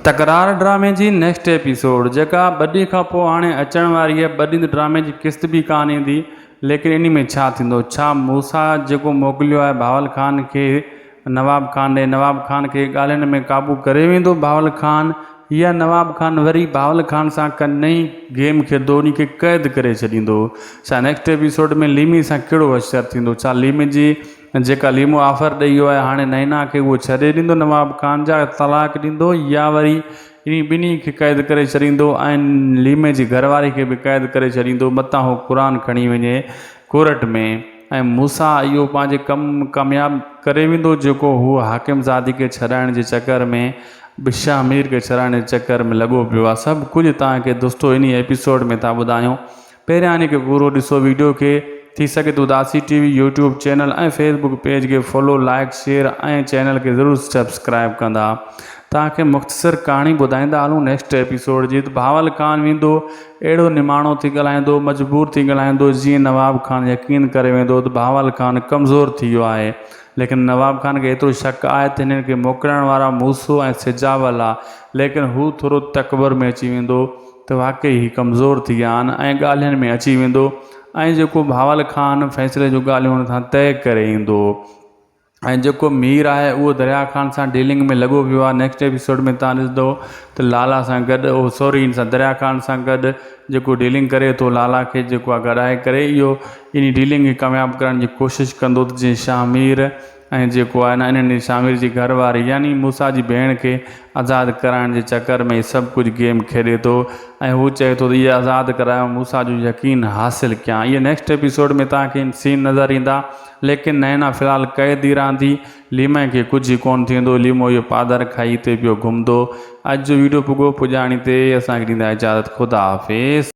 تڪرار ڊرامي جي نيڪسٽ ايپيسوڊ جيڪا ٻه ڏينهن کان پوء هاڻي اچڻ واري آهي ٻه ڏينهن ته ڊرامي جي قسط به ڪانه ايندي ليڪن انهي ۾ ڇا ٿيندو ڇا موسيٰ جيڪو موڪليو آهي بهاول خان کي نواب خان ڏي نواب خان کي ڳالهين ۾ قابو ڪري ويندو بهاول خان يا نواب خان وري بهاول خان سان ڪا نئين گيم کيڏندو انهي کي قيد ڪري ڇڏيندو ڇا نيڪسٽ ايپيسوڊ ۾ ليمي سان ڪهڙو حشر ٿيندو ڇا ليمي جي جيڪا ليمو آفر ڏئي ويو آهي هاڻي نئنا کي اهو ڇڏي ڏيندو نواب خان جا طلاق ڏيندو يا وري انهي ٻنهي کي قيد ڪري ڇڏيندو ۽ ليمي جي گهر واري کي به قيد ڪري ڇڏيندو متان هو قرآن کڻي وڃي ڪورٽ ۾ ۽ موسيٰ اهو پنهنجي ڪم ڪامياب ڪري ويندو جيڪو هو حاڪم زادي کي ڇڏائڻ جي چڪر ۾ به شاهه مير کي ڇڏائڻ جي چڪر ۾ لڳو پيو آهي سڀ ڪجهه توهان کي دوستو انهي ايپيسوڊ ۾ ٿا ٻڌايون پهريان هن کي پورو ڏسو ويڊيو کي ٿي سگهي ته Udasi T V YouTube channel ۽ Facebook page کي فالو لائيڪ شيئر ۽ چينل کي ضرور سبسڪرائيب ڪندا توهان کي مختصر ڪهاڻي ٻڌائيندا هلون نيڪسٽ ايپيسوڊ جي ته بهاول خان ويندو اهڙو نماڻو ٿي ڳالهائيندو مجبور ٿي ڳالهائيندو جيئن نواب خان يقين ڪري ويندو ته بهاول خان ڪمزور ٿي ويو آهي ليڪن نواب خان کي ايترو شڪ آهي ته هنن کي موڪلائڻ وارا موسو ۽ سجاول آ ليڪن هو ٿورو تڪبر ۾ اچي ويندو ته واقعي هي ڪمزور ٿي ويا آهن ۽ ڳالهين ۾ اچي ويندو ۽ جيڪو بهاول خان فيصلي جون ڳالهيون ان سان طئي ڪري ايندو ۽ جيڪو مير آهي اهو دريا خان سان ڊيلنگ ۾ لڳو پيو آهي نيڪسٽ ايپيسوڊ ۾ تان ڏسندو ته لالا سان گڏ اهو سوري ان سان دريا خان سان گڏ جيڪو ڊيلنگ ڪري ٿو لالا کي جيڪو آهي گڏائي ڪري اهو اني ڊيلنگ کي ڪامياب ڪرڻ جي ڪوشش ڪندو ته جيئن شاهه مير ۽ جيڪو آهي نه انهن جي شامر جي گهر واري يعني موسيٰ جي ڀيڻ کي آزاد ڪرائڻ جي چڪر ۾ هي سڀ ڪجهه گيم کيڏي ٿو ۽ هو چئي ٿو ته اهي آزاد ڪرايو موسيٰ جو يقين حاصل ڪيان اهي نيڪسٽ ايپيسوڊ ۾ توهان کي سين نظر ايندا ليڪن نينا في الحال قيد ئي رهندي ليمي کي ڪجهه ئي ڪونه ٿيندو ليمو اهو پادر کائي هتي پيو گهمندو اڄ جو ويڊيو پڳو پڄاڻي تي اسان کي ڏيندا اجازت خدا حافظ.